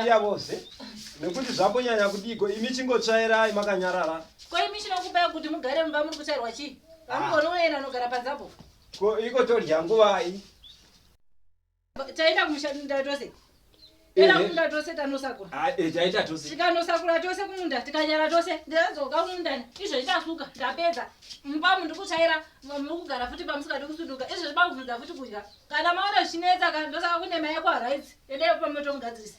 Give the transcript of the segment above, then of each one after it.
iyavoze nekuti zvambonyanya kudiko imi chingotsvairai makanyarara ko imi chinokubai kuti mugare mumba muri kutsvairwa chii vamugonoenda anogara panzapo Ko iko todya nguvai? Taenda kumusha munda tose. Era eh, eh. munda tose tanosakura. Ah, eh taita tose. Tikanosakura tose kumunda, tikanyara tose. Ndadzoka kumunda. Izvo itasuka, ndapedza. Mumba mundu kuchaira, mukugara futi pamusuka ndikusuduka. Izvo zviba kuvhunza futi kudya. Kana maona zvinetsa kana ndosaka kune mai kwa rights. Endai pa moto mugadzirisa.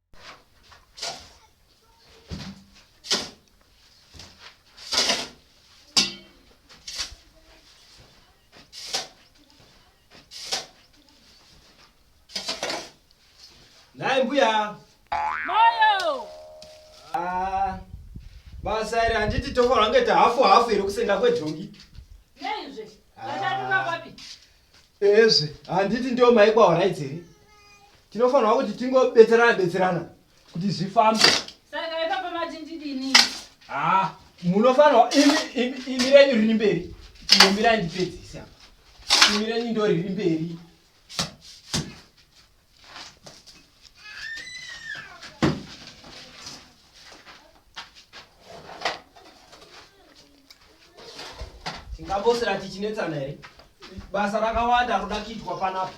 Naye mbuya. Moyo. Ah. Basa iri handiti tofa rangeta hafu hafu iri kusenga kwedhongi. Nei zve? Vatatu vapapi? ezve handiti ndiwo maikwa horaiti here tinofanirwa kuti tingobetserana betserana kuti zvifambe saka ipapa mati ndidini haa ah, munofanirwa imi renyu riri mberi imomirai ndipedzise apa imi renyu ndo riri mberi tingambosira tichinetsana here basa rakawanda roda kuitwa panapa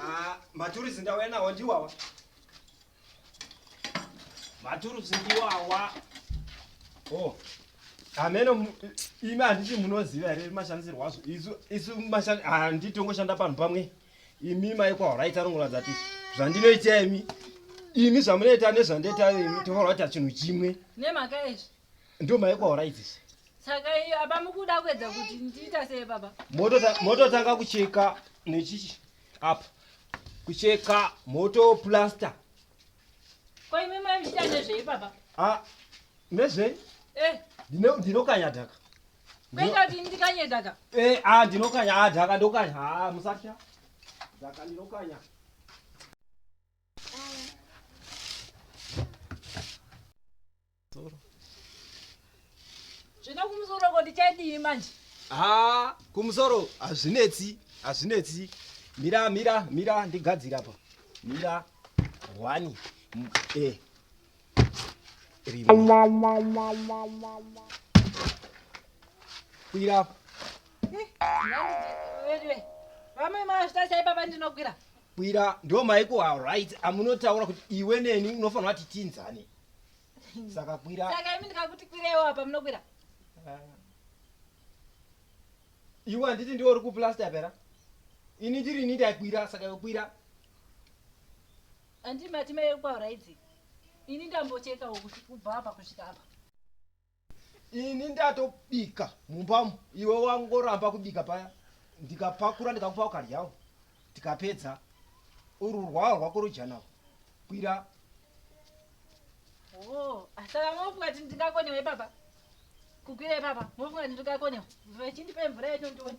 Ah, maturusi ndauya nawo ndiwawa. Maturusi ndiwawa. Oh. Ameno imi handiti munoziva here mashandisirwo azvo. Isu isu mashandi handiti ah, tongoshanda panhu pamwe. Imi mai kwa right anongoratidza kuti zvandinoita imi imi zvamunoita nezvandoita imi tofarwa kuita chinhu chimwe. Nemhaka yezvi. Ndio maiko aura idzisi. Saka iyo apa mukuda kuedza kuti ndiita sei baba? Moto moto tanga kucheka nechichi apa. Kucheka moto plaster. Kwa imi mai mchita nezvei baba? Ah, nezvei? Eh. Ndino ndinokanya dhaka. Kwenda kuti ndikanye dhaka. Eh, ah ndinokanya ah dhaka ndokanya. Ah musatya. Dhaka ndinokanya. zvino kumusoro ko ndichadii manje ha kumusoro hazvinetsi hazvinetsi mira mira mira ndigadzira pa mira one e eh. rimwe kwira eh, vamwe mazvita chaipa pandinokwira Bwira ndo maiko a right amunotaura kuti iwe neni unofanira kuti tinzane. Saka kwira. Saka imi ndikakuti kwirewo apa munokwira. Ah. Iwe anditi ndiwe uri ku plaster pera. Ini ndiri ini ndakwira saka yokwira. Andi mati maiko a right. Ini ndambochekawo kuti kubva apa kusvika apa. ini ndatobika mumbamo iwe wangoramba kubika paya ndikapakura ndikakupa ukaryawo tikapedza ururwawo rwako rujanawo kwira oh, saka mofunga ti ndingakonewa ipapa kukwira ipapa mofunga ti ndingakonewa vachindipe mvura yacho ndione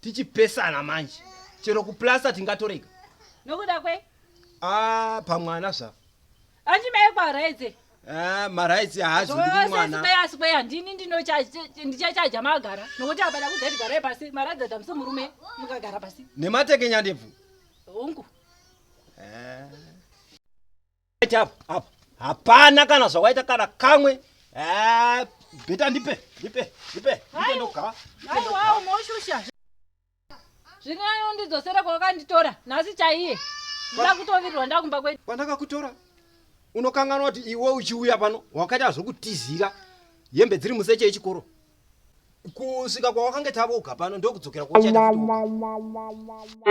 tichipesana manje chero kuplasta tingatorega nokuda kwe ah pamwana zva anti mai kwaraidze ah marights haazi kuti mwana sosesibei asi kweya ndini ndinochaja- ndichachaja magara nokuti apana kuzati garai pasi maradza damso murume mukagara pasi nematekenya ndebvu hongu ah hapana kana zvawaita kana kamwe eh, beta ndipe ndipe ndipe ndogaaumoshusha zvine anondidzosera kwawakanditora nhasi chaiye nda kutovirirwa ndakumba kwedu kwandakakutora unokanganwa kuti iwe uchiuya pano wakaita zvokutizira hembe dziri museche yechikoro kusvika kwawakange tavoga pano ndokudzokera kwauchaita kutoka